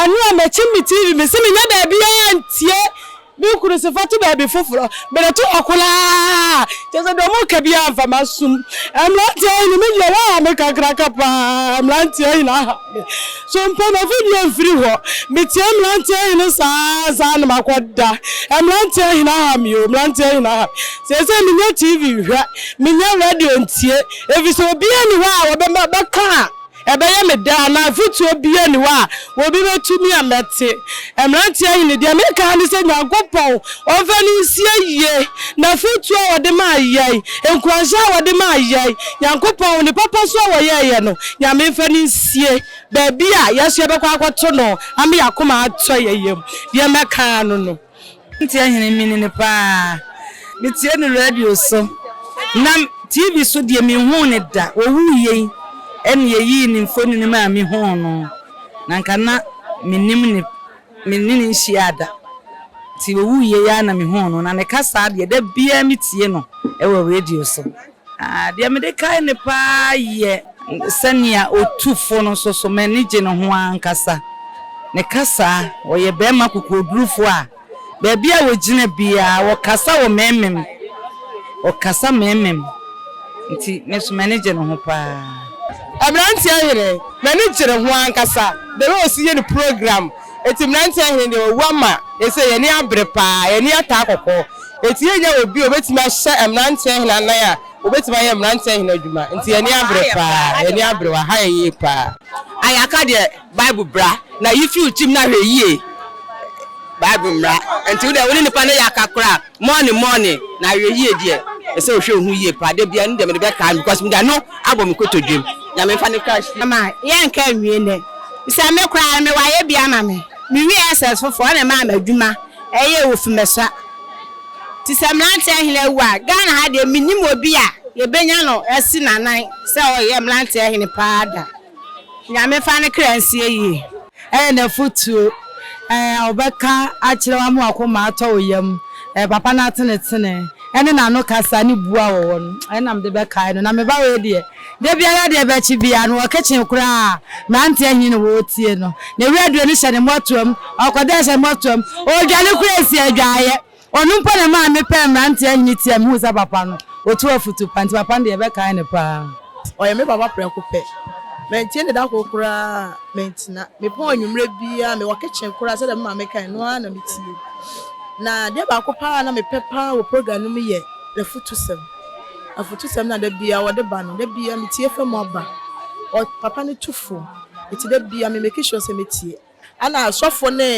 Ɛno a mɛkyim me TV me se menyɛ baabiaa ntie me kunu se fato baabi foforɔ mede to hɔ koraa kyerɛ sɛ deɛ ɔmo ka biaa mfa masum mmranteɛ yi no me deɛ waha me kakraka paa mmranteɛ yi na aha me so mpo mafi deɛ mfiri hɔ metie mmranteɛ yi no saa saa na makɔ da mmranteɛ yi na aha me o mmranteɛ yi na aha me seesei menyɛ TV nhwɛ menyɛ radio ntie efisɛ obiaa ni hɔ a wɔbɛma bɛka a Ɛbɛyɛ me dɛ anaa afotuo biara nni hɔ a obi bɛtumi a mɛte. Mmeranteɛ Hene, deɛ mereka ara ne sɛ Nyankopɔn ɔmfa no nsie yie. N'afotuo a ɔde maa yɛn, nkuranhyɛ a ɔde maa yɛn, Nyankopɔn, ne papa su a ɔyɛɛ yɛn no, Nyame mfa no nsie baabi a yɛn nso yɛbɛkɔ akɔto no ama yɛn akoma atɔ yɛn yam. Deɛ mɛka ara no no. Cynthia Hene mini no paa. Me tie no radio so na TV so deɛ me nhuu no da. Ɔwuiɛ yi ɛna yɛyii ne mfonini maa me huu no. Na anka na me nim no me ne no nhyiaa da. Nti ɔwuiɛ yi ara na me huu no. Na ne kasaa deɛ da biara me tie no ɛwɔ radio so. Ah, deɛ mede kae no paa yɛ. Sɛnea ɔtu fo no nso so, m'ani gye ne ho ankasa. Ne kasa, ɔyɛ barima kokoɔdurufoɔ a, baabi a ɔgyina biara, ɔkasa wɔ mmemmem. Ɔkasa mmemmem. Nti, me nso m'ani gye ne ho paa. Aberanteɛ Hene, m'ani gye ne ho ankasa, the way ɔsi yɛ ne program. Enti mmeranteɛ hene deɛ wawu ama ɛsei yɛn ani abere paa, yɛn ani ataa kɔkɔ. Enti yɛnnya obi a ɔbɛtumi ahyɛ mmeranteɛ hene anan a ɔbɛtumi ayɛ mmeranteɛ hene adwuma. Enti yɛn ani abere paa, yɛn ani abere, wɔaha yɛn yie paa. Ayaka deɛ Bible bra na yi firi wo tirim na hwɛ yie. Bible mmra. Enti wo deɛ wo ne nipa no yɛ aka koraa. Morning morning na awie yie deɛ ɛsɛ ohwɛ oho yie paa da bia no deɛ mede bɛkaa no because mede ano abɔ me kotodwem nyame mfa no crash fie. Mama yɛ nka nwie nɛ sɛ me koraa no me wayɛ bi ama me me wie SS foforɔ ɔna ɛmaa me adwuma ɛyɛ wɔ fimɛsua nti sɛ mmeranteɛ hene awu a Ghana ha deɛ mennim obi a yɛbɛnya no asi nanan sɛ ɔyɛ mmeranteɛ hene paa da. Nyame fa ne kra nsie yie. Ɛyɛ nafotuo ɛɛ ɔbɛka akyerɛ wo ama wakoma atɔ wo yam ɛɛ papa no atenetene ɛne nano kasa ne buo a wɔwɔ no ɛɛ na mede bɛkae no na meba wei deɛ dabiara deɛ bɛkye biara no wɔ kitchen koraa mmeranteɛ he na wɔretie no na wura duro no hyɛ ne mmɔtoam ɔkɔda hyɛ ne mmɔtoam ɔredwane koraa ɛsi adwaeɛ Ɔno mpo na ɛmaa mepɛɛ mmeranteɛ ahene tia. Mehuu sɛ papa no, ɔtu afotu pa, nti papa no deɛ, yɛbɛkae no paa. Ɔyɛ me papa prɛko pɛ. Mantie no da koro koraa mantena. Mepɔn anwummerɛ biara, mewɔ kitchen koraa sɛdeɛ me maame kae no ara na metie. Na adeɛ baako paa a na mepɛ paa wɔ program no mu yɛ n'afutusɛm. Afutusɛm no a da biara ɔde ba no, da biara metie fa mu aba. Ɔ, papa no tu fo, nti da biara me make sure sɛ mɛtie. Ɛna asɔfo ne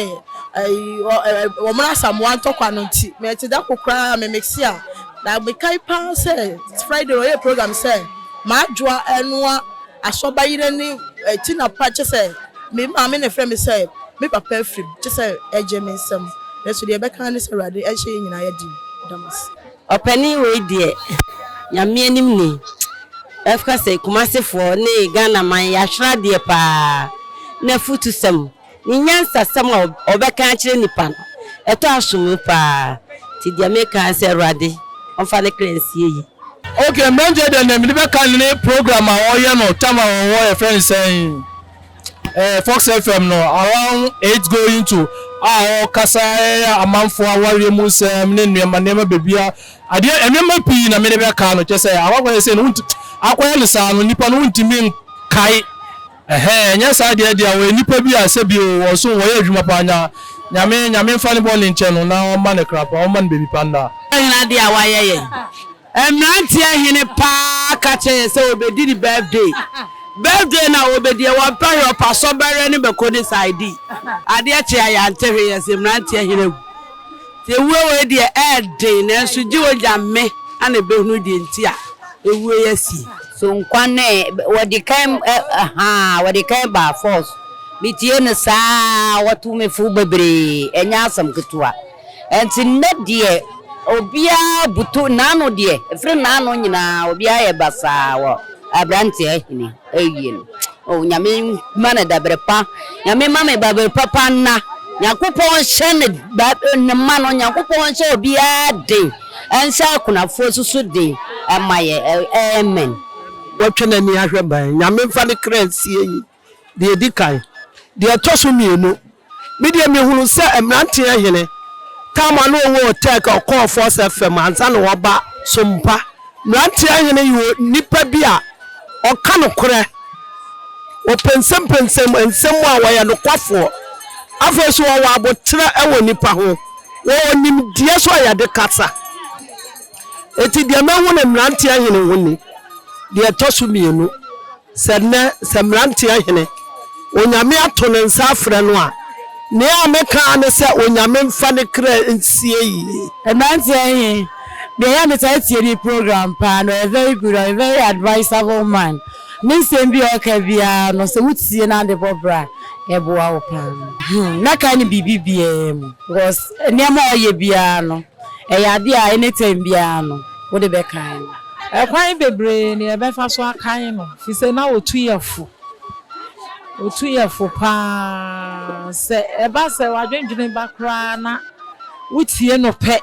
wɔn Asamoah ntɔkwa no nti me te da ko koraa me mixe a na me kae paa sɛ Friday ɔyɛ program sɛ m'adwoa ɛnoa asɔ ba yere ne ti na pa kyɛ sɛ me maame na ɛfrɛ me sɛ me papa afiri mu kyɛ sɛ ɛgye me nsam nanso deɛ ɛbɛka ne sɛ awurade ɛnhyɛ yɛn nyinaa yɛ den. Damasi. Ɔpanin wei deɛ Nyame anim ni mɛka sɛ Kumasefoɔ ne Ghana man yɛahwere adeɛ paa N'afutusɛm, ne nyansasɛm a ɔbɛka akyerɛ nnipa no ɛtɔ asom'o paa Nti deɛ meka ara ne sɛ Awurade ɔmfa ne kra nsie yie. Ok mɛnkyɛ deɛ nea mede bɛka ne ne program a ɔyɛ no tam a ɔwɔ yɛfrɛ no sɛn. ɛɛ Fox FM no around eight going to a ɔkasa ɛyɛ amanfoɔ awareɛ mu nsɛm ne nneɛma nneɛma beebi a adeɛ nneɛma pii na mede bɛka no kyɛ sɛ awakɔyɛ sɛ no wonti akɔyɛ no saa no nipa no wontumi nkae ɛhɛn ɛnyɛ saa deɛ deɛ wɔyɛ nipa bi a sɛ bi o wɔn so wɔyɛ adwuma paa nya nyame nyame nfa ne bɔ ne nkyɛn no na ɔma ne kra pa ɔma ne beebi pa nna. Nyinaa deɛ a wayɛ yɛn. Mmeranteɛ hene paa ka kyerɛ yɛn sɛ wɔbɛdi ne birthday. Birthday no a wɔbɛdiɛ, wɔmpɛ hwee, ɔpɛ asɔbɛreɛ no bɛkɔ ne side. Adeɛ kye a yɛante hwee, yɛse mmeranteɛ hene awu. Nti ɛwuo wei deɛ ɛɛden, nanso gye Onyame na ɛbɛhunu deɛ nti a ɛwuo yi asie. So nkwa no ɛ, wɔde kan ɛ, ahaa, wɔde kan baa force. Metie no saa a, wɔto me fo bebree, ɛnyɛ asɛm ketewa. Enti nnɛ deɛ obiara butu n'ano deɛ ɛfiri n'ano nyinaa obiara yɛ basaa wɔ abranteɛ ahini awie no oh nyame ma no dabere pa nyame ma me babere papa nna nyankopɔn nhyɛ ne ba ne mma no nyankopɔn nhyɛ obiara den ɛnhyɛ akunafoɔ susu den ɛma yɛ amen. Watwa n'ani ahwɛ ban. Nyame mfa ne kra nsie yɛn. deɛ ɛdi kan. Deɛ ɛtɔ so mmienu, me deɛ mehunuu sɛ mmeranteɛ hene, tam a na ɔwɔ Otɛk a ɔkɔɔ Fɔs FM ansa na waba Sompa, mmeranteɛ hene yɛ onipa bi a ɔka nokorɛ, ɔpɛnsɛmpɛnsɛm nsɛm mu a ɔyɛ nokwafoɔ, afei nso ɔwɔ aboterɛ wɔ nnipa ho, ɔwɔ nimdeɛ nso a yɛde kasa. Enti deɛ mahu no mmeranteɛ hene ho ni, deɛ ɛtɔ so mmienu. Sɛ nnɛ, sɛ mmeranteɛ hene, Onyame ato ne nsa afrɛ no a, nea a mɛka ara ne sɛ Onyame mfa ne kra nsie yie. Mmeranteɛ he, deɛ yɛ a metaa tie ne program paa na ɔyɛ very good, ɔyɛ very advisable man. Ne nsɛm bi a ɔka biaa no sɛ wo tie na de bɔ bra a, ɛboa wo paa. Hmm, mɛkae no biribi biaa mu because nneɛma a ɔyɛ biaa no, ɛyɛ adeɛ a anytime biaa no wode bɛkae no. Ɛkwan bebree na yɛbɛfa so akan no, efisɛ na otu yafo. Otu yafo paa. Sɛ ɛba sɛ w'adwendwene ba koraa na wutie no pɛ,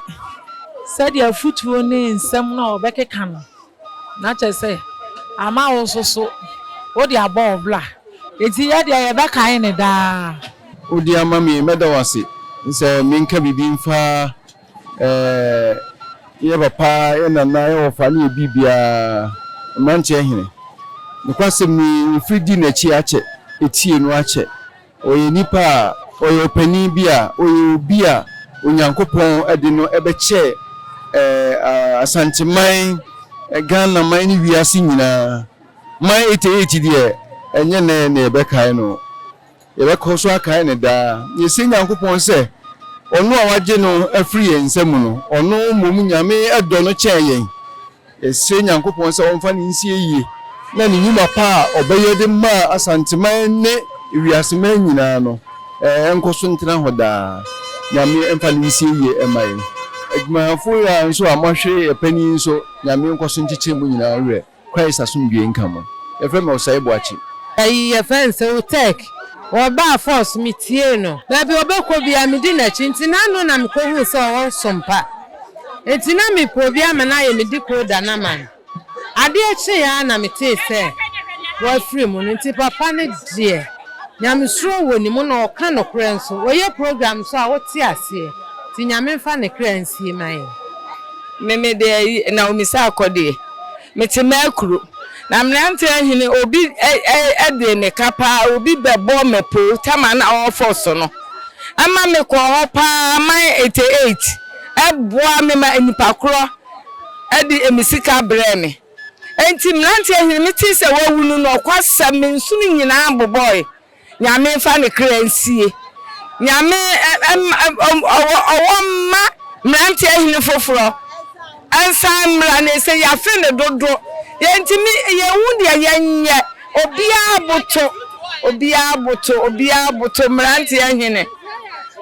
sɛdeɛ afotuo ne nsɛm no a ɔbɛkeka no, na kyerɛ sɛ, ama wo nso so wode abɔ wo bra. Enti yɛn deɛ, yɛbɛkan no daa. Wode ama me, mɛda wo ase. Sɛ menka biribi mfa. Ɛɛɛ, yɛn papa, yɛn nana, yɛn wɔfa ne yɛn biribiara, mmeranteɛ hene. Nokwasɛm ni, mfiri di n'akyi akyɛ, etie no akyɛ. Ɔyɛ nipa a, ɔyɛ ɔpanin bi a, ɔyɛ obi a Onyankopɔn de no bɛkyɛ ɛɛɛ Asanteman, Ghanaman ne wiase nyinaa. Mai 88 deɛ, ɛnyɛ nnɛ na yɛbɛkae no. Yɛbɛkɔ so akae no daa, na yɛasie Nyankopɔn sɛ, Ɔno a wagye no afiri yɛn nsa mu no, Ɔno mmom Nyame dɔ no kyɛn yɛn. Yɛsrɛ Nyankopɔn sɛ ɔmfa no nsie yie, na ne nnwuma pa a ɔbɛyɛ de maa Asanteman ne wiaseman nyinaa no, ɛnkɔ so ntena hɔ daa. Nyame mfa no nsie yie mma yɛn. Adwumayɛfoɔ yi ara nso a moahwere yɛn panin yi nso, Nyame nkɔ so nkyekyere mo nyinaa werɛ. Christ asomdwoe nka mo. Yɛfrɛ me Osayi Boakye. Ayi yɛfrɛ no sɛ Oteg. Ɔbaa Falls, metiee no. Baabi a ɔbɛkɔ biara medi n'akyi nti na ano na mekɔhuu sɛ ɔwɔ nsom pa. Enti na mepɛ obi ama no ayɛ me decoder no ama no. Adeɛ kyeeɛ ara na metee sɛ wafiri mu no nti papa no deɛ Nyamesuro wɔ ne mu na ɔka nokorɛ nso. Ɔyɛ program nso a wote aseɛ. Nti Nyame mfa ne kra nsie ma yɛn. Me me deɛ Naomi Sarkodie. Mete m'akuro. Na mmeranteɛ hene obi de me ka paa, obi bɛbɔ m'apoo tam a na ɔrefɔ so no. Ɛma mekɔɔ hɔ paa man ete eight boa me ma nnipa korɔ de me sika brɛɛ me. Enti mmeranteɛ hene metee sɛ wawu no nokwasɛm me nsono nyinaa bobɔɔe. Nyame nfa ne kra nsie. Nyame ɔwɔ mma mmeranteɛ hene foforɔ nsan mmra na ɛsɛ yafe no dodo yɛntumi yɛnhu deɛ yɛnyɛ obiara boto obiara boto obiara boto mmeranteɛ hene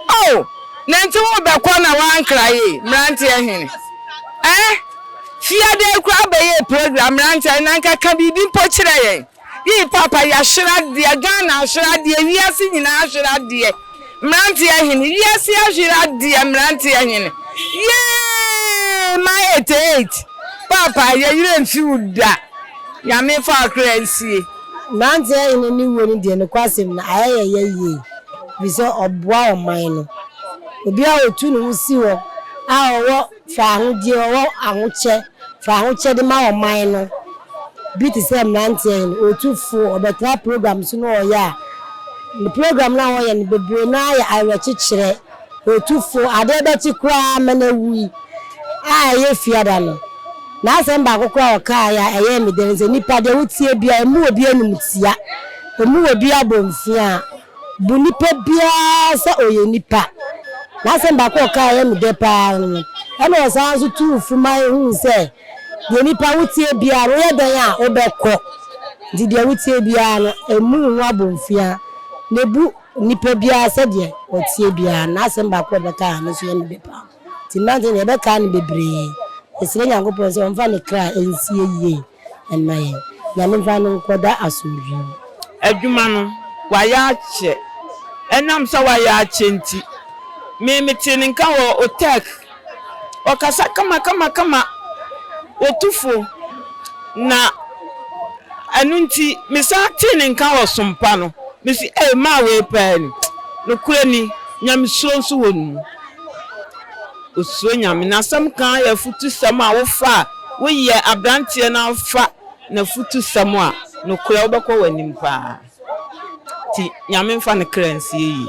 oh nanti wo bɛkɔ na wankra ye mmeranteɛ hene eh fiadɛ kura bɛyɛ program mmeranteɛ na nka ka biribi mpo kyerɛ yɛn. Yii papa yashera deɛ Ghana ashera deɛ wiase nyinaa ashera deɛ mmeranteɛ hene wiase ashera deɛ mmeranteɛ hene yeeeeee ma eighty eight papa yɛ yerɛ nfi wo da Nyame nfa wo kra nsie. Mmeranteɛ hene ne wuo no deɛ nokwasɛm no ayɛ yɛn ya yie ɛfiri sɛ ɔboa ɔman no obiara a ɔtu ne ho si hɔ a ɔwɔ. Fa ahodie ɔwɔ ahokyɛ fa ahokyɛde ma ɔman no bi te sɛ mmeranteɛ no ɔtu fo ɔbɛtaa program so na ɔyɛ a ne program no a ɔyɛ no bebree no ara yɛ awerɛkyekyerɛ ɔtu fo adeɛ bɛkye koraa ma no awu yi a ɛyɛ fiada no n'asɛm baako koraa a ɔkaeɛ a ɛyɛɛ me dɛ ne sɛ nnipa deɛ wotie biara ɛmu wɔ bi animtia ɛmu wɔ bi abɔmfiaa Bu nipa biara sɛ ɔyɛ nipa. N'asɛm baako a ɔkae a ɛyɛ me dɛ paa ara no, ɛnna ɔsan nso tuu fo ma yehuu sɛ, Deɛ nipa wotie biara no, woyɛ dɛn a, wobɛkɔ. Nti deɛ wotie biara no, mmu wo ho abomfiaa, na bu nipa biara sɛdeɛ ɔteɛ biara no. N'asɛm baako a ɔbɛkae a ɛno nso yɛ me dɛ paa. Nti mmerante no, yɛbɛkae no bebree. Yɛsrɛ Nyankopɔn sɛ ɔmfa ne kra nsie yie. mma yɛn. Nyame mfa no nkɔda asomdwoe mu. Adwuma no, wayɛ akyɛ. Ɛnam sɛ wayɛ akyɛ nti, me metee ne nka wɔ Otɛk. Ɔkasa kama kama kama, otu fo, na ɛno nti mesan tee ne nka wɔ Som Pa no, mese ei maa wei paa ni. Nokorɛ ni, Nyamesuro nso wɔ ne mu. Osuro Nyame. N'asɛm ka ara yɛ afutusɛm a wofa a, woyɛ aberanteɛ na wofa n'afutusɛm a, nokorɛ wobɛkɔ w'anim paa. Nti Nyame mfa ne kra nsie yie.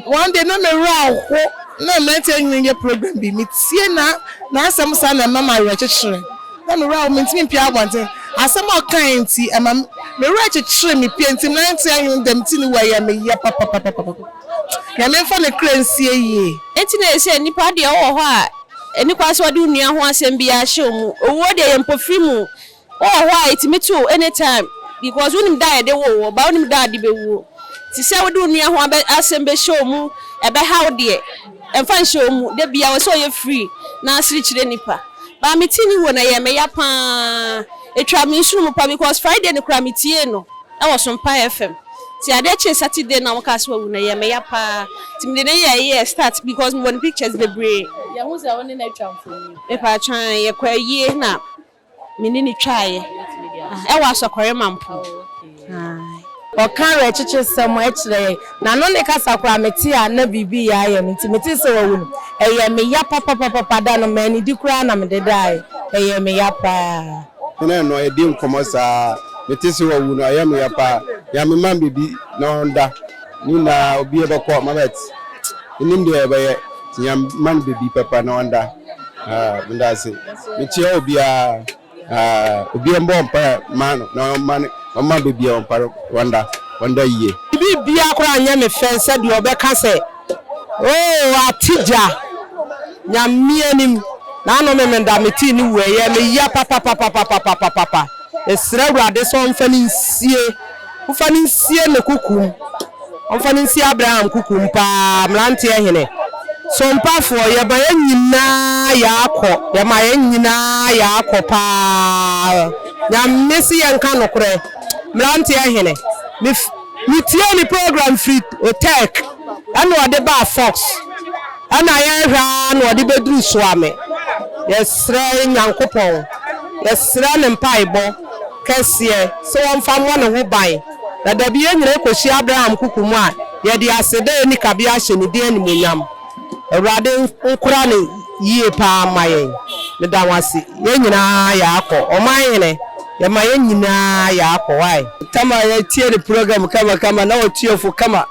One day na me werɛ aho na mmeranteɛ nwene yɛ program bi me tie na n'asɛm saa na ɛma me awerɛkyekyerɛ na me werɛ aho mentumi mpue abɔnten asɛm a ɔkaeɛ nti ɛma me werɛ kyekyere me pie nti mmeranteɛ nwene dɛm ti ne wei a ɛyɛ me ya papapapapapa. Nyame mfa ne kra nsie yie. Enti na ɛsɛ nnipa deɛ wowɔ hɔ a ɛni kwan sɛ wɔde wo nua ho asɛm biara hyɛ wo mu. Owuo deɛ yɛ mpofiri mu. Wowɔ hɔ a ɛtumi to wo any time because wonim da a yɛde woo wo but wonim da a wode bɛwuo. Nti sɛ wode wo nua ho asɛm bɛhyɛ wo mu, ɛbɛha wo deɛ, mfa nhyɛ wo mu. Da biara ɛwɔ sɛ woyɛ free na wosere kyerɛ nnipa. But metee ne wuo no ɛyɛɛ me ya paa. Ɛtwaa me nsono mu paa because Friday no koraa metiee no. Ɛwɔ so mpa yɛ fɛm nti adeɛ kyee Saturday na wɔkaa sɛ wawu no ɛyɛɛ me ya paa nti mede no yɛɛ yɛɛ start because mewɔ ne pictures bebree. Yɛhu sɛ wo ne no atwa mfoni. Mepaatwaa yɛkɔ ayie na me ne no twaaeɛ ɛwɔ Asɔkɔre Mampo ae. Ɔka awerɛkyekyesɛm kyerɛ yɛn na no ne kasa koraa mete a na biribi reyɛ ayɛ me nti metee sɛ wawu no ɛyɛɛ me ya papapapapa da no mannidi koraa na mede daaeɛ ɛyɛɛ me ya paa. Me ne no redi nkɔmmɔ saa. Mete se wawu no, ɛyɛ me ya paa. Nya me man biribi na ɔnda. Ne nyinaa obiara bɛkɔ Mabɛt. Menim deɛ ɛbɛyɛ nti nya me man biribi papa na ɔnda. Haa meda ase. Mekyea obiara. Haa obiara mmɔ mpaeɛ mma no na ɔmma ne ɔmma biribi a ɔmpa no ɔnda. Ɔnda yie. Biribiara koraa nyɛ me fɛ sɛ deɛ ɔbɛka sɛ Oh ate gya nyamea nim nano me meda me tii ne wue yɛ me ya papapapapapapapapa mesrɛ awurade sɛ ɔmfa ne nsie ɔmfa ne nsie ne kukum ɔmfa ne nsie Abraham kukum paa mmeranteɛ hene sompafoɔ yɛma yɛ nyinaa yɛakɔ yɛma yɛ nyinaa yɛakɔ paa nyame se yɛnka nokorɛ mmeranteɛ hene me Metiee ne program firi Otech ɛna ɔde baa Fox ɛna yɛhwɛ ara na ɔde bɛduru Soame. Yɛsrɛ Nyankopɔn, yɛsrɛ no mpaebɔ kɛseɛ sɛ wɔmfa mmɔ ne ho ban na dabi yɛnyina yɛkɔhyia Abraham Kuku mu a yɛde aseda a ɛnni kabea ahyɛ ne din animuonyam. Awurade nkora no yie paa mma yɛn. Meda wo ase. Yɛn nyinaa yɛakɔ. Ɔman hene, yɛma yɛn nyinaa yɛakɔ. Why? Tama yɛtie ne program kama kama na ɔtua fo kama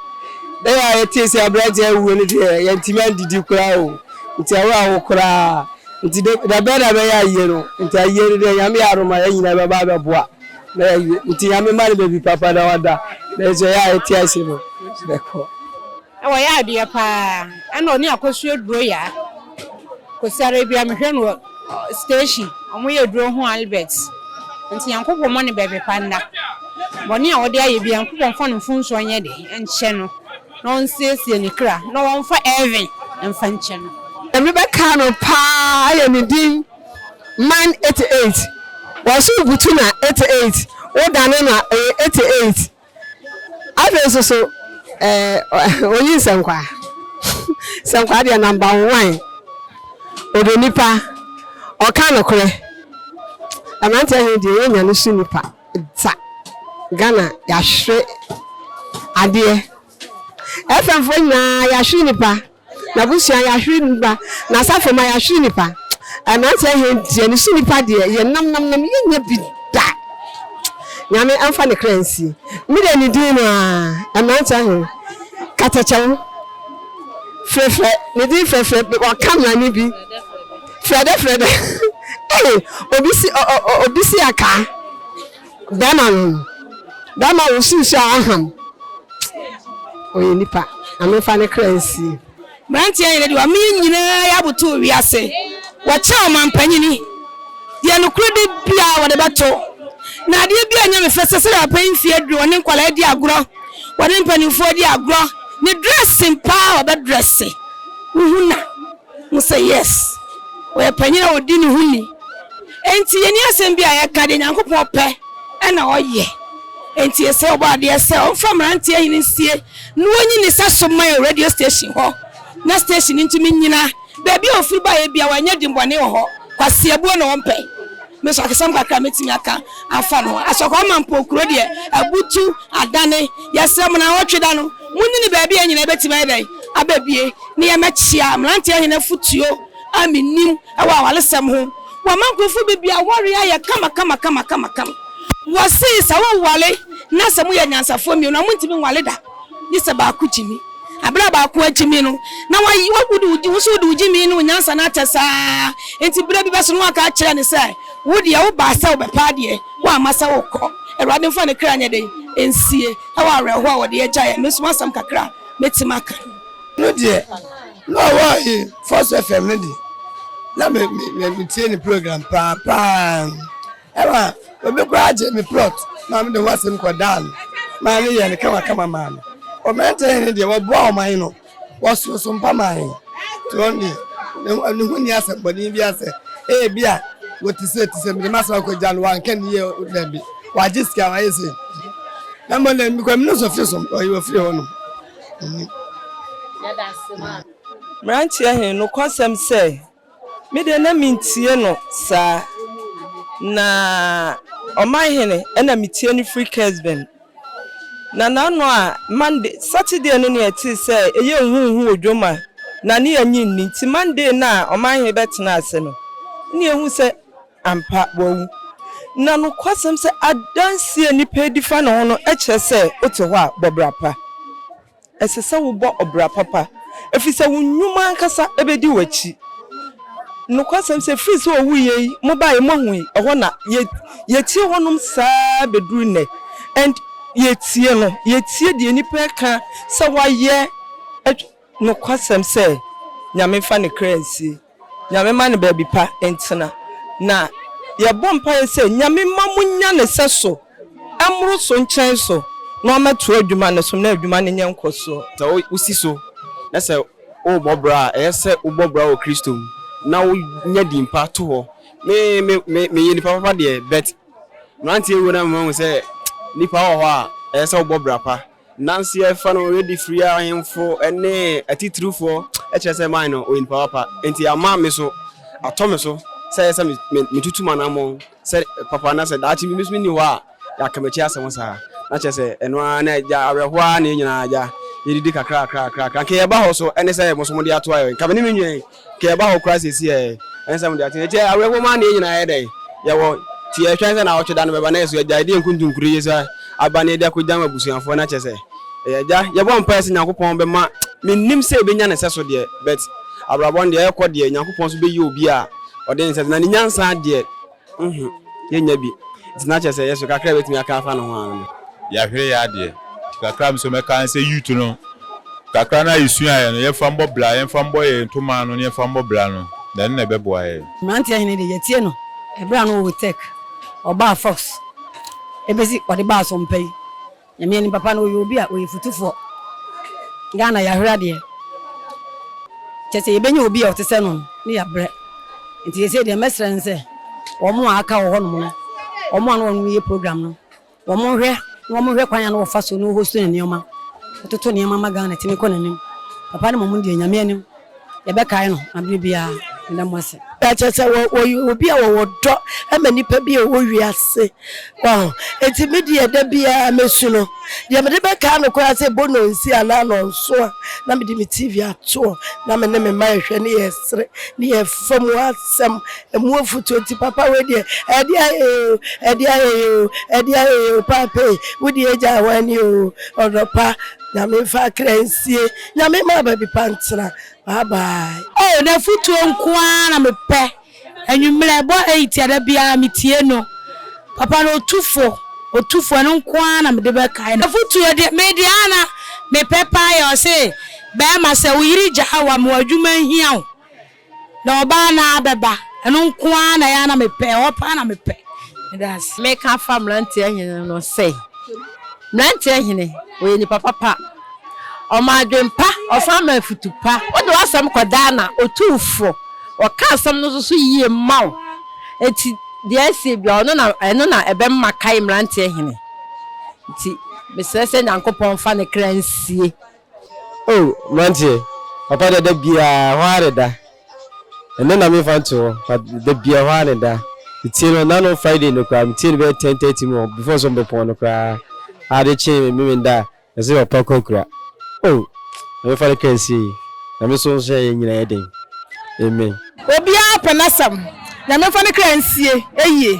da a yɛtee sɛ aberanteɛ awuo no deɛ yɛntimi andidi koraa o nti awo awo koraa nti de da bɛn na bɛyɛ ayie no nti ayie no deɛ nyame yɛ adom a yɛn nyinaa bɛba abɛboa na yɛawie nti nyame ma no baabi papa na wada nanso ɛyɛ a yɛte ase no bɛkɔ Wɔyɛ adeɛ paa ɛna ɔne akosua duro yaa kosi ara bia mehwɛ no wɔ station ɔmo yɛ duro ho albert nti nyankopɔn mɔ ne bɛbi pa nda bɔne a ɔde ayɛ bia nyankopɔn nfa no mfomsoɔ nyɛ de nkyɛ no na ɔnsiesie ne kra na ɔnfa heaven nfa nkyɛ no. Nyame bɛkaa no paa ayɛ ne din man 88 wɔso butu na 88 wo dane no a ɛyɛ 88. Afei nso so ɛɛ oyi nsɛnkwaa nsɛnkwaa deɛ namba nwan ɔdɔ nipa ɔka nokorɛ mmeranteɛ he deɛ yɛnya no so nipa dza Ghana yɛahwere adeɛ FM foɔ nyinaa yɛahwere nipa. N'abusua yahwere nnipa, n'asafo ma yahwere nnipa, mmeranteɛ hɛn deɛ ne so nnipa deɛ yɛ nam nam nam yɛ nya bi da, Nyame ɛmfa ne kra nsi me deɛ ne din no aa, mmeranteɛ hɛn Katakyɛw frɛfrɛ ne din frɛfrɛ wɔ camera ne bi frɛdɛ frɛdɛ ei obi si ɔ ɔ ɔ obi si akaa. Bɛɛma no no bɛɛma wosi nsu a ɔham ɔyɛ nipa na menfa ne kra nsie. Mmeranteɛ nyina de wɔn mene nyinaa yɛ aboto wiase wɔkyɛ ɔmampanyini deɛ nokore de biaa wɔde bɛto na adeɛ biaa nyɛ me fɛ sɛ sɛdeɛ papa yi mfie aduru wɔne nkwadaa di agorɔ wɔne mpaninfoɔ di agorɔ ne dressing paa wɔbɛ dresse wohu na Mo sɛ yes ɔyɛ panyin a ɔdi ne ho ni enti yɛni asɛm bi a yɛka deɛ Nyankopɔn pɛ ɛna ɔyɛ enti yɛsrɛ ɔbɔadeɛ sɛ ɔmfa mmeranteɛ hene nsie na wɔnyi ne sa so ma yɛn wɔ radio station hɔ na station no ntumi nnyina baabi a ɔfiri baeɛ biara wanyɛ dimmɔne wɔ hɔ kwaseabuo na ɔmpɛ me nso akasɛm kakra a mɛtumi aka afa no ho asɔkɔ ama mpo kuro deɛ abutu adane yɛsrɛ mo na awɔtwe da no monni ne baabi a nyina ɛbɛtumi ayɛ dɛn abɛbie ne yɛ mɛkyea mmeranteɛ hene afotuo a menim wɔ awaresɛm ho Wɔma nkurɔfoɔ bebree aware ayɛ kama kama kama kama kama Wɔse sɛ woware na sɛ moyɛ anyansafoɔ mmienu a montumi nware da gye sɛ baako gyimi Berɛ a baako agyimi no na wayi wo wode wo wo nso wode wo gyimi ne wo nyansa no akyɛ saa Enti berɛ bi bɛso no woaka akyerɛ no sɛ wo deɛ wobaa sɛ wobɛpɛ adeɛ woamma sɛ wokɔ Awurade mfa ne kra nyɛ dɛn nsie wɔ awerɛhoɔ a wɔde agyaeɛ Me nso m'asɛm kakra a mɛtumi aka no no deɛ na ɔwɔ ayi first fm no deɛ na me me me me tie ne program paa paa ɛma obi koraa gye me plot maa me de ho asɛm kɔ daa no maa ne yɛ no kama kama maa no ɔmɛnta yɛ no deɛ wɔboa ɔman no wɔsoɔ so mpa maa yɛ to wɔn deɛ ne ho ne ho ni asɛm bɔne bi asɛ ɛyɛ bi a wɔte sɛ te sɛ mede ma asɛm akɔgya no wanka ne yɛ daabi wagye sika wayɛ sɛ na mmɔ na mekɔ mene sɔfiri so ɔyɛ ɔfiri hɔ nom Amen. Mmeranteɛ he, nokwasɛm sɛ, me deɛ na mentie no saa, na ɔman hene na metie no firi Kesben. Na n'ano a Monday, Saturday no ne yɛtee sɛ ɛyɛ nhuhu wɔ dwom a na ne yɛnye nni nti Monday no a ɔman he bɛtenaa ase no ne yɛhuu sɛ Ampa, wawu. Na nokwasɛm sɛ adanse a nnipa redi fa ne ho no kyerɛ sɛ wote hɔ a, bɔ bra pa. Ɛsɛ sɛ wobɔ ɔbra papa, efisɛ wo nnwuma ankasa bedi w'akyi. Nokwasɛm sɛ efi sɛ owuiɛ yi, mobaeɛ, moahui, ɛhɔ na yɛ, yɛtie hɔnom saa beduru nnɛ. And yɛtie no, yɛtie deɛ nnipa reka sɛ wɔayɛ, nokwasɛm sɛ Nyame mfa ne kra nsie. Nyame ma no baabi pa ntena. Na yɛbɔ mpaeɛ sɛ Nyame mma mo nya ne sɛso mmoro so nkyɛn so na ɔmɛ toa adwuma no so na adwuma no nyɛ nkɔsoɔ. Sɛ wo si so na sɛ wo bɔ bra a, ɛyɛ sɛ wo bɔ bra wɔ Kristo mu na wo nya din pa to hɔ. Me me me me yɛ nipa papa deɛ but mmeranteɛ wuo na me ma hu sɛ nipa wɔ hɔ a ɛyɛ sɛ wo bɔ bra pa. Nanso yɛfa no redi firi a ahemfo ne atitiriwfo kyerɛ sɛ mae no, ɔyɛ nipa papa, enti ama me so atɔ me so sɛ ɛyɛ sɛ metutu m'anammɔn sɛ papa na sɛ daakye bi me nso menni hɔ a yɛaka m'akyi asɛm saa. Na kyerɛ sɛ ɛno ara na agya, awerɛhow ara na yɛn nyinaa agya, yɛdidi kakra kakra kakra kakra. Anka yɛba hɔ so ne sɛ mo nso mode ato ayɛ, anka me ne me nwɛn. Ka ɛba hɔ koraa seesei ɛ? Ɛnsɛ mode aten. Enti awerɛhoɔ mu ara na yɛn nyinaa yɛ dɛn? Yɛwɔ. Nti yɛhwɛ sɛ naawɔtwe da no bɛba na yɛso agyae de yɛn nkontonkuro yi so aba na yɛde akɔgyam abusuafoɔ no akyɛ sɛ yɛyɛ agya. Yɛbɔ mpaeɛ sɛ Nyankopɔn bɛma. Mennim sɛ yɛbɛnya ne sɛso deɛ, but abrabɔ no deɛ ɛrekɔ deɛ, Nyankopɔn nso bɛyi obi a ɔde ne sɛso, na ne nyansa deɛ. Nhu, yɛnnya bi. Nti na kyerɛ sɛ yɛ so kakra a yɛbɛtumi aka afa ne ho ara no. Yɛahwere yɛn adeɛ. Nti kakra a me nso mɛka ne sɛ youth no, kakra no a yɛsuaeɛ no, yɛmfa mmɔ bra, yɛmfa mmɔ yɛn ntoma ano ne yɛmfa mmɔ bra no, na ɛno na ɛbɛboa yɛn. Mmeranteɛ hene deɛ, yɛatie no berɛ a na ɔwɔ Tech, ɔbaa Fox, ɛbɛsi ɔde baa Asompɛ yi. Nyame anim papa no ɔyɛ obi a ɔyɛ futufoɔ. Ghana yɛahwere adeɛ. Kyerɛ sɛ yɛbɛnya obi a ɔte sɛ no no ne yɛabrɛ. Nti seesei deɛ mɛsrɛ ne sɛ wɔn a aka wɔ hɔnom no, wɔn a na wɔnom yɛ program no, wɔnhwɛ na wɔhwɛ kwan a na wɔfa so no host ne nneɛma, wɔtoto nneɛma ma Ghana tumi kɔ n'anim. Papa no mmom deɛ Nyame anim. yɛbɛkae no na bere biara meda mo ase. Kyerɛ sɛ wɔyɛ obi a wɔwɔ dɔ ma nnipa bi a wɔwɔ wiase. Wahu? Enti me deɛ da biara mɛsu no. Deɛ mede bɛkae no koraa sɛ Bono nsi anaa nnɔnso a, na mede me TV ato hɔ na me ne me mma yɛhwɛ ne yɛsere ne yɛfa mu asɛm, ɛmu afutuo. Enti papa wei deɛ, ɛdeɛ ayɛ yɛ oo, ɛdeɛ ayɛ yɛ oo, ɛdeɛ ayɛ yɛ oo, Paapa ei, wo deɛ agya hwan ni oo, ɔdɔ pa. Nyame nfa akra nsie. Nyame mma baabi pa ntena. Bye bye. Oh nafutuo nkoaa na me pɛ anwummerɛ ɛbɔ eight a da biara me tie no papa no otu fo otu fo ɛno nkoaa na mede bɛ kae no nafutuo deɛ me deɛ a na me pɛ paa yɛ ɔse bɛɛma sɛ wo yere gyaa wo a ma wo adwuma nhia wo. Na ɔbaa no ara bɛba. Ɛno nko ara na ɛyɛ a na mepɛ, ɛhɔ paa na mepɛ. Meda ase. Meka afa mmeranteɛ hene no sɛ, mmeranteɛ hene, ɔyɛ nipa papa, ɔma adwene pa, ɔsan ma afutu pa, wode w'asɛm kɔda a na ɔtu wo fo, ɔka asɛm no nso so yie ma wo, enti deɛ asie biara ɔno na, ɛno na ɛbɛma kae mmeranteɛ hene, enti mesrɛ sɛ Nyankopɔn mfa ne kra nsie. O, mmeranteɛ, papa deɛ da biara ɛhɔ ara na ɛda. Ɛnnɛ na memfa nto hɔ, but da biara ɛhɔ ara na ɛda. Metie no nna no Friday no koraa, metie no bɛyɛ ten thirty mu hɔ, before sɛ wɔbɛpɔn no koraa. Ade kye me me menda a, ɛsɛ papa kɔ akura. O, Nyame fa ne kra nsie. Nyame nso nhyɛ yɛn nyinaa den. Amen. Obiara pɛ n'asɛm. Nyame mfa ne kra nsie ayie.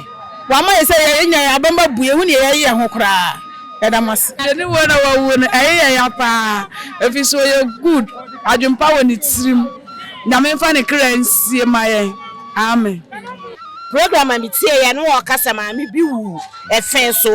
Wama yɛ sɛ yɛn nya yɛn abam abue ehu neɛ yɛye yɛn ho koraa. Yɛda mo ase. Yɛne woi na wawu no ɛye yɛn ya paa ɛfiri sɛ ɔyɛ good adwen pa wɔ ne tirim Nyame mfa ne kra nsie ma yɛn Amen. Program a me tie yɛ no ɔka sɛ maame bi wu ɛfɛn so.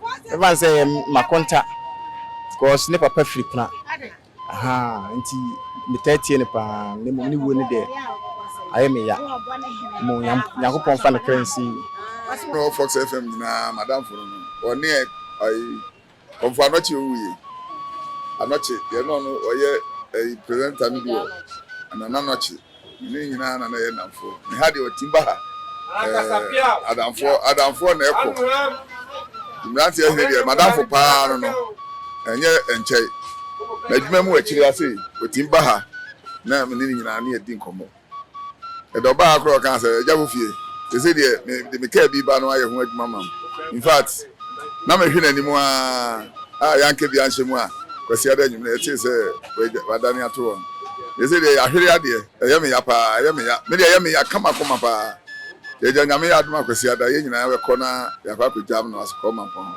Mɛfa no sɛ ɛyɛ makonta cause ne papa firi kuna ahaa nti metaa tie no paa na mmom ne wuo no deɛ ayɛ me ya mmom Nyankopɔn fa ne kra nsi. Ɔno Fox FM nyinaa madamfo no no ɔne ayi kɔmfo anɔkye owuiɛ anɔkye deɛ na ɔno ɔyɛ ayi presenter no bi wɔ Nana anɔkye. Yɛn nyinaa na na yɛ nnamfoɔ. Me ha deɛ ɔtim ba ha. Eh, adamfoɔ adamfoɔ na ɛkɔ. Mmeranteɛ hene deɛ madamfo paa no no ɛnyɛ nkyɛe. N'adwuma mu akyire ase ɔtim ba ha na me ne ne nyinaa ne yɛdi nkɔmmɔ. Ɛdɛ ɔbaa ha koraa ɔkaa sɛ agya wo fie. Sese deɛ mede me kaa bi ba no ayɛ ho adwuma ma m. In fact. Na mehwe n'anim aa, a yɛanka bi anhyɛ mu a, Kwasiada anwummere yɛtee sɛ wɔagya, wɔadane ato wɔn. Deɛ sei deɛ yɛahwere adeɛ, ɛyɛ me ya paa, ɛyɛ me ya, me deɛ ɛyɛ me ya kama koma paa. Yɛagya, Nyame yɛ adom a Kwasiada yɛn nyinaa bɛkɔ na yɛakɔ akɔgyam no ase kɔ Mampɔn hɔ.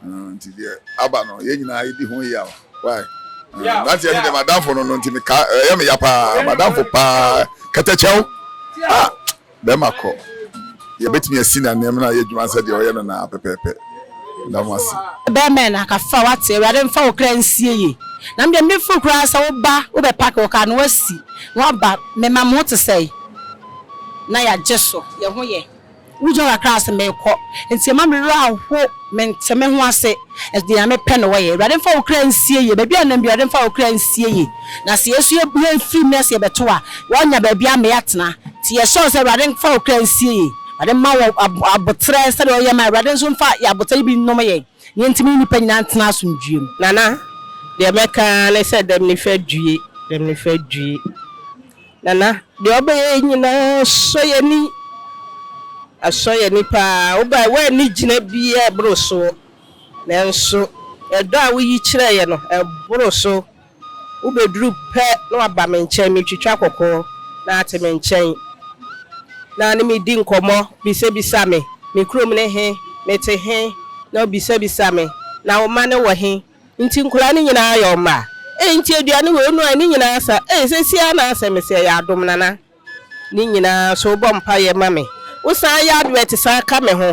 Uh, nti deɛ aba no yɛn nyinaa yɛdi ho yaw. Why? Uh, nanteɛ no deɛ madamfo no no nti meka, ɛyɛ me ya paa, madamfo paa, kɛtɛkyɛw. Ah, Bɛrima kɔ, yɛbɛtumi asi no ananmu na ayɛ adwuma sɛdeɛ ɔyɛ no no ara pɛpɛɛpɛ. Meda mo ase. Bɛɛma na ka fa wate awurade nfa wo kra nsie ye na medeɛ me feel koraa sɛ wo ba wo bɛ pack wo car na wasi na waba mema mo ho te sɛn na ya gye so yɛ ho yɛ wo gyina kakra se mekɔ nti ɛma me werɛ aho mente me ho ase. Ɛde Nyame pɛ na wɔyɛ. Awurade mfa wo kra nsie yie. Baabi a yɛnam biara, Awurade mfa wo kra nsie yie. Na sɛ yɛn nso yɛfiri mu na sɛ yɛbɛto a, wɔnnya baabi ama yɛatena. Nti yɛsrɛ wo sɛ Awurade mfa wo kra nsie yie. Awurade mma wo aboterɛ sɛdeɛ ɔyɛ ma yɛn. Awurade nso mfa yɛn aboterɛ yi bi nnome yɛn, na yɛntumi ne nnipa nyinaa ntena asomdwoeɛ mu. Nana, deɛ mɛka ara ne sɛ dɛm nifa due, dɛm nifa due. Nana, deɛ ɔbɛyɛ yi nyinaa sɔ yɛn ani. Asɔ yɛn ani pa ara. Wobae, woanni gyina biara a ɛboro so. Nanso ɛdɔ a woyi kyerɛɛ yɛn no, ɛboro so. Wobɛduru pɛ na woaba me nkyɛn, metwitwa kɔkɔɔ, na woate me nkyɛn, na wo ne me di nkɔmmɔ, bisabisa me, Me kurom ne he? Mete he? na wobisabisa me, Na wo mma no wɔ he? Nti nkwadaa no nyinaa ayɛ wo mma? Ei nti aduane wei no ai ne nyinaa asa ei seisei ara na asɛ me sɛ ɛyɛ adom Nana ne nyinaa nso wobɔ mpaeɛ ma me wo san yɛ advert san ka me ho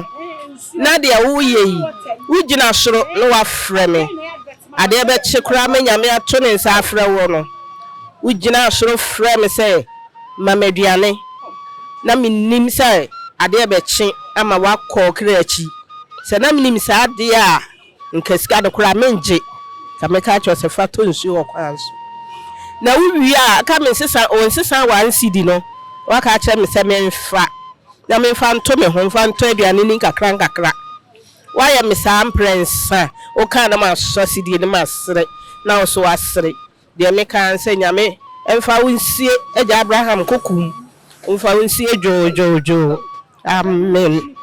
na deɛ woyɛ yi wo gyina soro na wafrɛ me adeɛ bɛkye koraa ma Nyame ato ne nsa afrɛ woɔ no wo gyinaa soro frɛɛ me sɛ ma me aduane na me nim sɛ adeɛ bɛkye ama woakɔ ɔkra akyi sɛ na me nim saa deɛ a Nka sika no koraa mengye. Nka mɛka akyerɛ wo sɛ fa tɔ nsuo wɔ kwan so. Na wo wie a, aka me nsesa, o nsesa one cedi no, woaka akyerɛ me sɛ memfa, na memfa nto me ho, mfa ntɔ aduane ni nkakra nkakra. Woayɛ me saa mprɛnsa, wokaa na masɔ asedie no masere, na wo nso woasere. Deɛ meka ara ne sɛ Nyame mfa wo nsie Agya Abraham Kokum mfa wo nsie dwoodwoodwoo. Amen.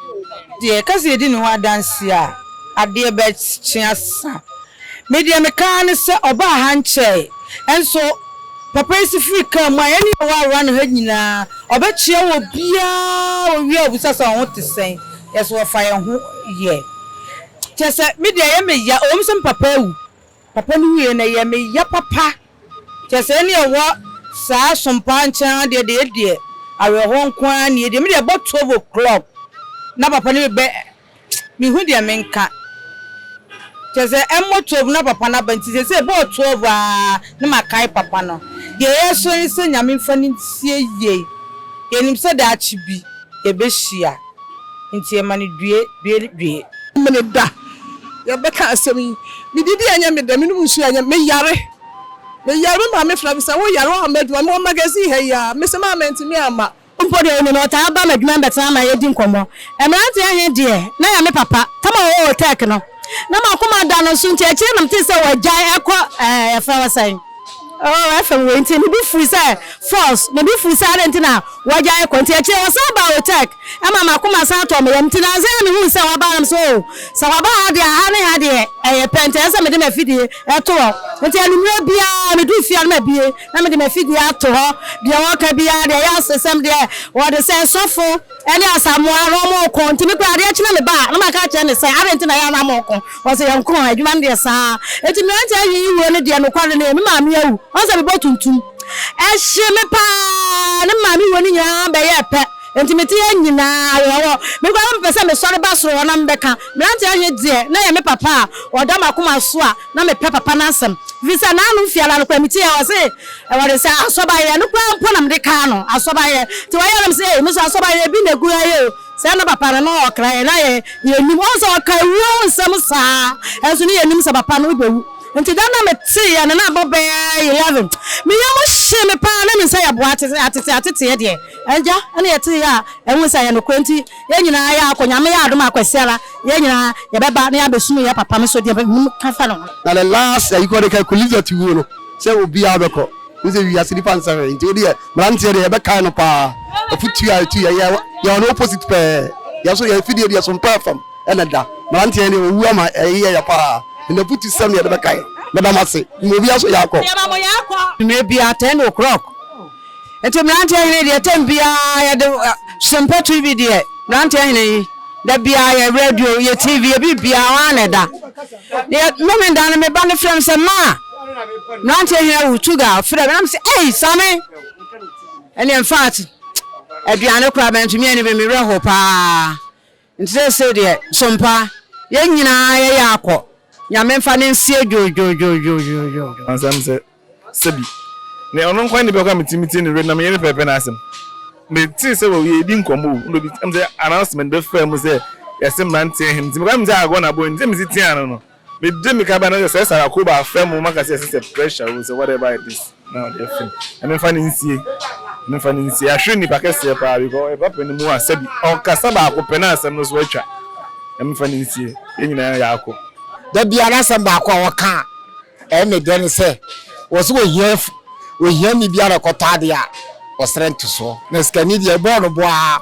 Deɛ ɛka sɛ yɛdi ne ho adanseɛ a adeɛ bɛkye asa. Me deɛ meka ara ne sɛ ɔbaa ha nkyɛe nso papa yi se firi car mu a yɛne yɛn wɔ around ha nyinaa ɔbɛkyea obiara ɔwie a ɔbisa sɛ wo ho te sɛn yɛse wɔfa yɛn ho yɛ kyerɛ sɛ me deɛ ɛyɛ me ya ɛwɔ mu sɛ me papa awu Papa no wuiɛ no ɛyɛ me ya papa kyerɛ sɛ ɛne ɛwɔ saa sompaa nkyɛn ha deɛ deɛ ɛdeɛ awerɛhoɔ nko ara nie deɛ me deɛ ɛbɔ twelve o clock na papa no bɛ me hu deɛ me nka kyerɛ sɛ ɛmmɔ twelve na papa no aba nti sɛsɛ ɛbɔɔ twelve aa na ma kae papa no deɛ yɛsrɛ ne sɛ nyame mfa no nsie yie yɛnim sɛ daakye bi yɛbɛhyia. Nti ɛma no due, due, due. Mene da. Yɛbɛka asɛm yi. Medidi a ɛnyɛ me dɛ, menom nsuo a ɛnyɛ me dɛ, meyare. Meyare, me maame frɛ me sɛ, woyare, woamma adwuma. Mewɔ magazine ha yi ara. Mese, Maa mantumi amma. Mpo deɛ ɔnim no, ɔtaa ba m'adwuma mu bɛtena ma yɛdi nkɔmmɔ. Mmeranteɛ he deɛ, na yɛ me papa. Tama a ɔwɔ Otɛɛk no, na m'akoma da no so nti akyire na metee sɛ wɔagyae akɔ, ɛɛ, yɛfrɛ hɔ sɛn? Oh, ɛfam wei nti ne bo fui sɛ false, ne bo fui sɛ adɛn nti na wagyae kɔ. Nti akyire ɔsan baa Otech, ɛma m'akoma san tɔɔ me yam. Nti nansa yi na mehuu sɛ waba na mesɛ oh, sɛ waba ha deɛ a, ha ne ha deɛ ɛyɛ pɛ, nti ɛsɛ sɛ mede m'afidie to hɔ. Nti anwummerɛ biara meduru fie a na mabue na mede m'afidie ato hɔ. Deɛ wɔka biara deɛ ɛyɛ asesɛm deɛ wɔde sɛ sɔfo. Ɛne Asamoah na wɔreko nti me koraa adeɛ kye na meba a na maka akyerɛ no sɛ adɛn nti na ɛyɛ a na moreko? Ɔse yɛnko a adwuma no deɛ saa. Nti mmeranteɛ ayiyi wuo no deɛ nokware no ɛ me maame awu ɔhu sɛ mebɔ tuntum ɛhye me paa ne me maame wuo no nyinaa bɛyɛɛ pɛ nti mete ha nyinaa wɔ hɔ me koraa na mepɛ sɛ mesɔre ba soro hɔ na mebɛka mmeranteɛ he deɛ na ɛyɛ me papa a ɔda m'akoma so a Na mepɛ papa no asɛm efisɛ n'ano fi ara no koraa metie a ɔse ɛwɔde sɛ asɔbayɛ ɛno koraa mpo na mede kaa no asɔbayɛ nti ɔyɛ na mese ei meso asɔbayɛ bi na egu ha yi o sɛ na papa no na ɔkra yɛn na yɛ yɛnim ɔhu sɛ ɔka awuo ho nsɛm saa nso ne yɛnim sɛ papa no bɛwu nti da no na meteeɛ no na abɔ bɛɛ 11 me yam hye me paa na mensa yɛ boa ateteɛ ateteɛ deɛ agya ɛna yɛteeɛ a ɛhu sɛ ɛyɛ nokorɛ nti Yɛn nyinaa yɛakɔ, Nyame yɛ adom a kwasiara yɛn nyinaa yɛbɛba na yɛabɛsum yɛn papa me so deɛ menim ka fa ne ho. Na the last ayi kɔ de ka Kulizat wuo no sɛ obiaa bɛkɔ Wohu sɛ wiase nipa nsɛ hwee nti wodeɛ mmeranteɛ deɛ yɛbɛkae no paa Afutuo a ɛtu yɛn yɛ yɛwɔ no opposite pɛɛ Yɛn nso yɛn afidie deɛ sompɔ ɛfam na ɛda Mmeranteɛ yɛn deɛ ɔwu ama ɛyeyɛ yɛn paa And afutu sɛm na yɛde bɛkae Meda mo ase, mmom obiaa nso yɛ akɔ. Mmerɛ biaa ten o'clock Nti mmeranteɛ hene deɛ tɛm biara yɛde sempɔ tv deɛ mmeranteɛ hene yi da biara yɛ radio yɛ tv yɛ bi biara wɔn ana ɛda deɛ mmɛmi da no meba no frɛ m sɛ maa mmeranteɛ hene awu tuga frɛ m na m sɛ ei same ɛne mfaat aduane koraa mɛntumi ani bɛ mewerɛ ho paa Nti seesei deɛ, so mpa? Yɛn nyinaa yɛyɛ akɔ. Nyame mfa no nsie dwoodwoodwoodwoodwoodwoo. Asɛm sɛ, Sɛbi, ne ɔno nko ara nipa ko a metumi metie ne werɛ na meyɛ ne pɛpɛpɛ no asɛm. Metee sɛ wɔ yɛredi nkɔmmɔ o, na obi, ɛm sɛ announcement bɛfaa mu sɛ yɛse mmeranteɛ he, nti mekɔyɛ me sɛ agorɔ na bɔ, nti sɛ mesi teaa no no, Me de me ka ba na sɛ sɛ sara koba afɛ mo maka sɛ ɛsɛ sɛ pressure o sɛ whatever it is na ɔde afɛ mu na memfa no nsie memfa no nsie ahwere nnipa kɛseɛ paa because ɛba pɛ no mu a sɛbi ɔkasa baako pɛ na asɛm no so atwa na memfa no nsie yɛn nyinaa yɛ ako. Da biara asɛm baako a wɔka a ɛyɛ me dɛ ne sɛ wɔse wɔhia ohiani bi a ɔrekɔtɔ adeɛ a wɔsrɛ ntosoɔ na sikani deɛ ɛbɔɔ no bɔ ara.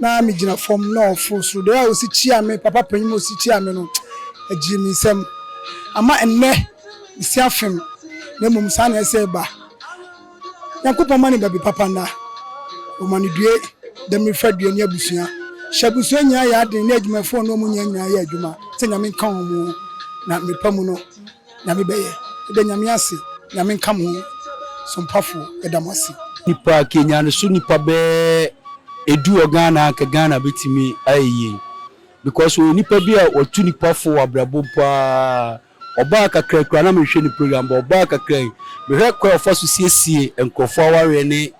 na migyina fam na ɔforo soro. Dɛɛ a osi kyiaa me papa panyin mu osi kyiaa me no, ɛgyee me nsam. Ama ɛnnɛ mesi afem na mmom saa na ɛsɛ ba. Nyankopɔn ma ne ba bi papa nna. Ɔma no due, damiri fa due ne abusua. Hyɛ abusua nyinaa yɛ aden ne adwumafoɔ ne wɔn nyinaa nyinaa yɛ adwuma sɛ Nyame nka wɔn na mmepa mu no. Nyame bɛyɛ. Meda Nyame ase, Nyame nka mo ho sompafo meda mo ase. Nipa ke nyane so nipa bɛ edu wɔ Ghana a nka Ghana betumi ayɛ yie because ɔyɛ nipa bi a ɔtu nipa fo wɔ abrabɔ mu paa ɔbaa kakra kura na menhwɛ ne program bɔ ɔbaa kakra yi mehwɛ kwan a ɔfa so siesie nkurɔfoɔ awareɛ ne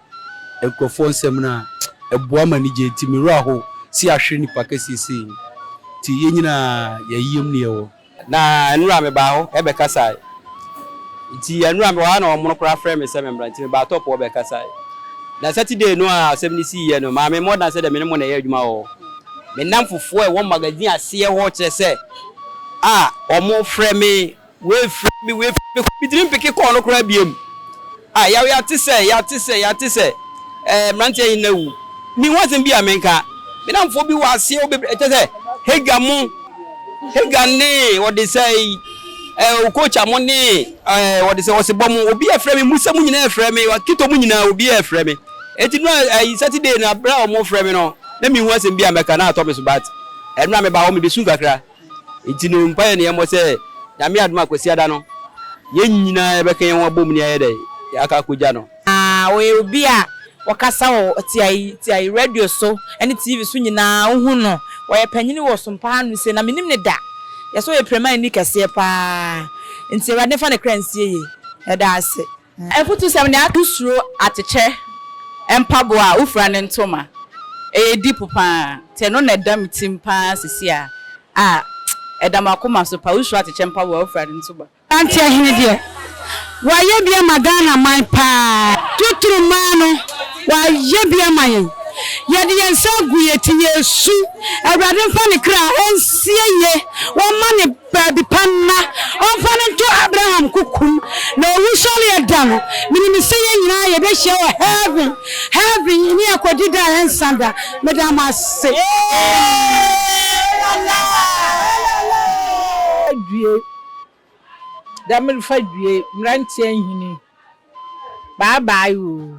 nkurɔfoɔ nsɛm no a ɛboa ma anigye nti me werɛ aho se yɛahwere nipa kɛseɛ sei nti yɛn nyinaa yɛn yam ne yɛwɔ. Na nnura mebaa hɔ bɛkasae. Nti nnura mewɔ ha na wɔn no koraa frɛ me sɛ memmra nti mebaa top hɔ bɛkasae. Na Saturday no a asɛm no siiɛ no, Maame Mordan sɛ deɛ me ne mo na ɛyɛ adwuma wɔ. Me nnamfofoɔ a ɛwɔ magazine aseɛ hɔ kyerɛ sɛ a wɔfrɛ me, wei frɛ me, wei frɛ me, metumi mpeke call no koraa biom. Ah, yaw yɛate sɛ, yɛate sɛ, yɛate sɛ, eh, mmeranteɛ he no awu. Menhu asɛm bi a menka. Me nnamfoɔ bi wɔ aseɛ bebree, kyɛ sɛ, Hagar mo, Hagar ne wɔde sɛ yi, eh, Okocha mo ne, eh, wɔde sɛ Osebɔ mo, obiara frɛ me, Musa mo nyinaa frɛ me, Kito mo nyinaa, obiara frɛ me. Enti no, eh, Saturday no, berɛ a wɔfrɛ me no, na menhu asɛm bi a mɛka, na atɔ me so, but, eh, mmerɛ a mebaa hɔ, mebesu kakra. Enti no mpaeɛ ne yɛmmɔ sɛ Nyame adom a Kwasiada no yɛn nyinaa yɛbɛka yɛn ho abom ne ayɛ dɛn? Aka akɔgya no. Na ɔyɛ obi a ɔkasa wɔ tiae tiae, radio so ne TV so nyinaa wohu no. Ɔyɛ panyini wɔ Ɔsom pa ha no sei na mennim no da. Yɛse ɔyɛ Piramani kɛseɛ paa. Enti Awurade mfa ne kra nsie yie. Yɛda ase. Afutusɛm ne aka. Wosuro atekyɛ mpaboa a wofura ne ntoma. Ɛyɛ deep paa. Sɛ ɛno na ɛda me tirim paa sisi a, ah, ɛda m'akoma so paa. Wosuro atekyɛ mpaboa a wofura ne ntoma. Mmeranteɛ hene deɛ, wayɛ bi ama Ghana man paa. Totoro mmaa no, wayɛ bi ama yɛn. Yɛde yɛn nsa agu yɛn ti, yɛresu. Awurade mfa ne kra nsie yie. Wɔmma ne. Baabi pa na ɔmfa no nto Abraham kokom na owusɔreɛ da no, menim sɛ yɛn nyinaa yɛbɛhyia wɔ heaven, heaven ne akɔdi da a ɛnsa da, meda mo ase. Due da merefa due mmeranteɛ nhini bye bye oo.